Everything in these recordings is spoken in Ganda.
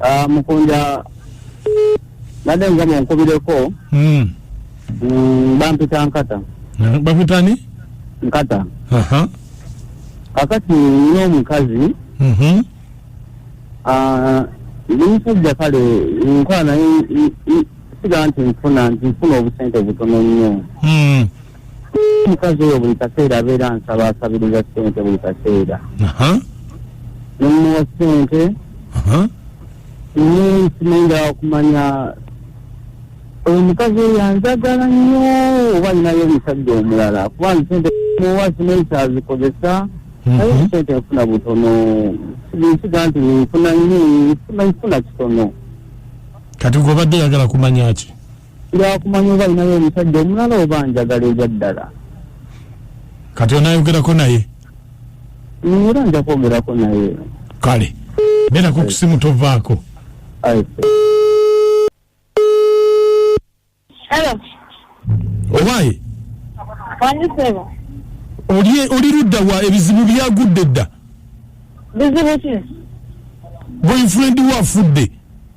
Ah, mukunja nade nga munkubireko mm. mm, bampita nkata bapitani nkata Aha. kakati nina omukazi Mhm. ah, ndi musajja kale nkola naye i- i- siga nti nfuna nti nfuna obusente butono nnyo Mm. omukazi oyo buli kaseera abeera nsaba asabiriza sente buli kaseera nemuwa sente nsimanyira okumanya oyo omukazi oyo anjagala nnyo oba alinayo omusajja omulala kuba nsente muwa simanyi kyazikozesa mhm. naye sente nfuna butono nsiga nti nfuna nfuna kitono kati gwe obadde yagala kumanya ki lwakumanya oba alinayo omusajja omulala oba njagala ebyaddala kati onayogerako naye era nja kwogerako naye kale berako kusimu tovaako owaye oli ludda wa ebizibu byagudde dda boyfriend wo afudde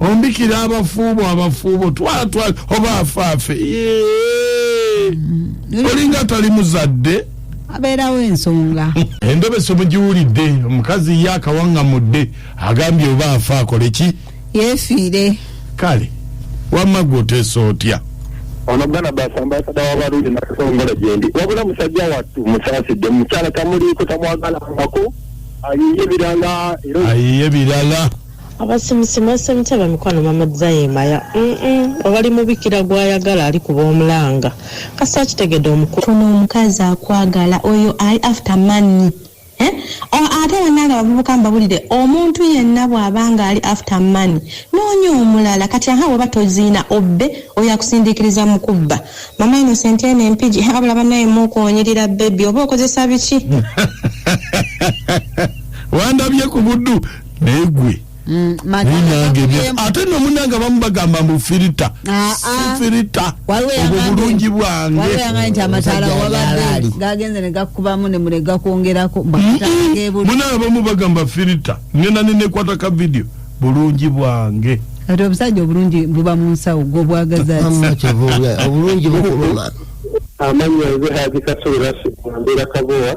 ombikira abafuubo abafuubo twala twala oba afaafe mm-hmm. olinga tali muzadde abeerawo ensonga endobe somugiwulidde omukazi ye akawaŋŋamudde agambye oba afa akole ki yeefiire kale wamma gwe oteesa otya ono bwana basa ambasada wabarundi nakasongola gyendi wabula musajja wattu musasidde mukyala tamuliiko tamwagala ngako ayiye birala ayiye birala abasimusi mwasamita bamikwano mama zayemaya obali mubikira gwayagala ali kuba omulanga kasi akitegede omukulu funa omukazi akwagala oyo ali after money eh? ate banange abavubuka mbabulire omuntu yenna bw'aba nga ali after money noonya omulala kati aha weba toziina obbe oyo akusindikiriza mu kubba mama innocent eno empigi abula banaye mukuonyirira bebi oba okozesa biki wandabye ku buddu naye gwe mm, ate no munange abamu bagamba mbu firita ah, ah. sifirita obwo bulungi bwangemunange abamu bagamba firita ngenda nenekwata ka vidiyo bulungi bwange ati obusajja obulungi buba mu nsawo gwobwagazaobulungi bukuluma amanya nze hajikasubirasi mbeera kabowa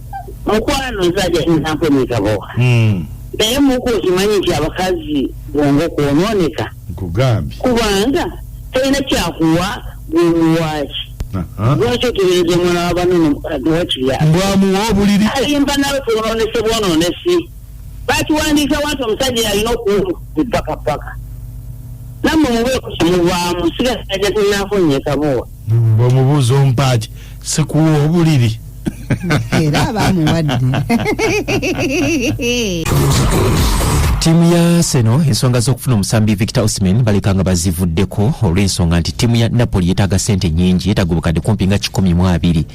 mukwano nze ajainampa emigabo hmm. naye muku okimanyi nti abakazi bwongo kwononeka nkugambye kubanga tolina kyakuwa gwemuwaki lwaki otebereza omwana wabanene wakiriambwamuwa obuliri alimba nawe kwononese bwononesi bakiwandiika wanti omusajja yalina okuwulu mpaka paka namwe mubeeku kimuvaamu sigasaja tinanfonyekabowa bwemubuuza ompaaki sikuwa obuliri era abamuwadde ttiimu ya seno ensonga z'okufuna omusambi victor osman baleka nga bazivuddeko olw'ensonga nti ttiimu ya napoli yetaaga sente nyingi yetaaga obukadde kumpi nga kikumi mu abiri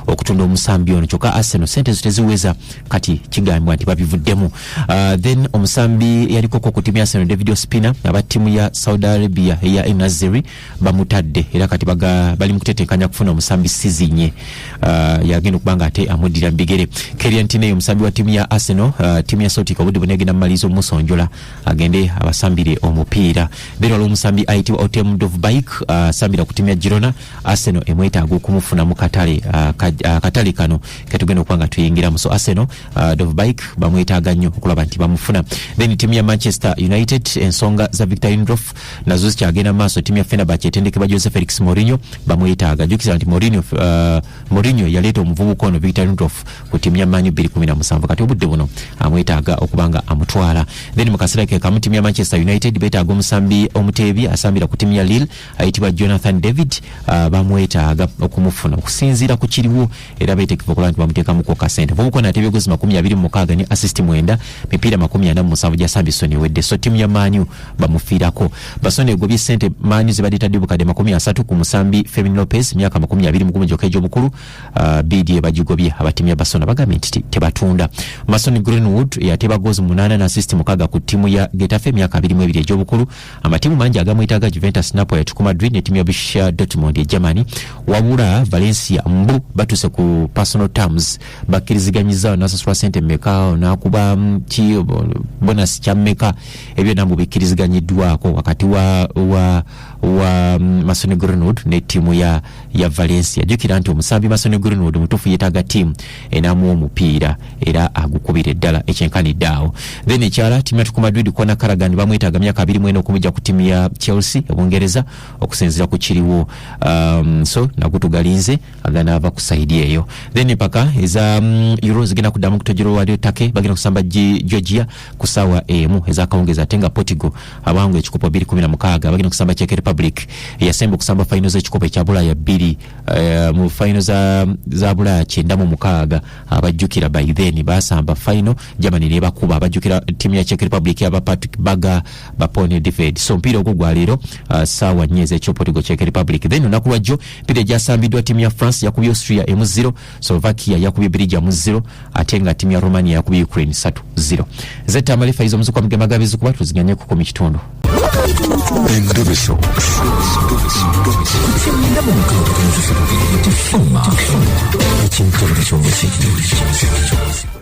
okutunda omusambi ono kyokka aseno sente zo teziweza kati kigambibwa nti babivuddemu uh, then omusambi yalikoko ku ttiimu ya seno david ospina aba ttiimu ya saudi arabia eya enazeri bamutadde era kati bali mu kutetenkanya kufuna omusambi sizinye uh, yagenda okuba nga ate amuddira mu bigere kerian tineyo omusambi wa tiimu ya arsenal uh, tiimu ya sotika obudde buna egenda mumaliriza omusonjola agende abasambire omupiira beera waliwo omusambi ayitibwa otem dovbike uh, asambira uh, ku tiimu ya girona arsenal emwetaaga okumufuna mu katale uh, ka, uh, katale kano ketugenda okuba nga tuyingiramu so arsenal uh, dovbike bamwetaaga nnyo okulaba nti bamufuna then tiimu ya manchester united ensonga za victor indrof nazo zikyagenda mu maaso ttiimu ya fenerbach etendekebwa jose felix morinho bamwetaaga jukisa nti morinho uh, morinho yaleeta omuvubuka ono victor nutof ku ttiimu ya manyu 217 kati obudde buno amwetaaga okuba nga amutwala then mu kaseera ke kamu ttiimu ya manchester united betaaga omusambi omuteebi asambira ku ttiimu ya lille ayitibwa jonathan david uh, bamwetaaga okumufuna okusinziira ku kiriwo era beetegefu okulaba nti bamuteekamu kwokka sente mvumukona ate ebyogozi makumi abiri mu mukaaga ne asisiti mwenda mipiira makumi ana mu musanvu gya sabisoni ewedde so ttiimu ya maanyu bamufiirako basoni egobye sente maanyu zibadde tadde bukadde makumi asatu ku musambi femin lopez myaka makumi abiri mu gumu gyokka egy'obukulu uh, biidi ebagigobye aba ttiimu ya basona bagambye nti tebatunda masoni greenwood eyateeba goozi munaana ne asisiti mukaaga ku ttiimu ya getafe myaka abiri mu ebiri egy'obukulu amatiimu mangi agamwetaaga juventus napoli atuku madrid ne tiimu ya busha dortmund e germany wabula valencia mbu batuuse ku personal terms bakkiriziganyizaawo nasasula sente meka nakuba mm, ki bonus kya meka ebyo nambu bikkiriziganyiddwako wakati wa, wa, wa mm, masoni greenwood ne tiimu ya, ya valencia jukira nti omusambi masoni greenwood mutuufu yetaaga tiimu enamu omupiira era agukubira eddala ekyenkanidde awo then ekyala timu yatuku madrid kona karagan bamwetaaga myaka abiri mwena okumujja ku timu ya chelsea ebungereza okusinzira ku kiriwo um, so nagutugalinze agana ava ku saidi eyo then empaka eza um, euro zigenda kuddamu kutojero walio take bagenda kusamba georgia ku sawa emu ezakawungeza ate nga portigo abawangu ekikopo 216 bagenda kusamba cheke republic eyasemba okusamba faino z'ekikopo ekya bulaya 2 Eh, mu fayino za, za bulaya kyenda mu mukaaga abajjukira by then basamba fayino germany nebakuba abajjukira tiimu ya czech republic aba patrick baga bapone dived so mpiira ogwo gwaleero uh, ah, saawa nnya ezekyopotigo czech republic then olunaku lwajjo mpiira egyasambiddwa tiimu ya france yakubya austria emu 0 Slovakia yakubye Belgium mu zero ate nga timu ya Romania yakubye Ukraine satu zero. Zeta Malifa izo muzukwa mgema gabi zukuba tuziganye kuko mikitundu. Endobeso. Endobeso.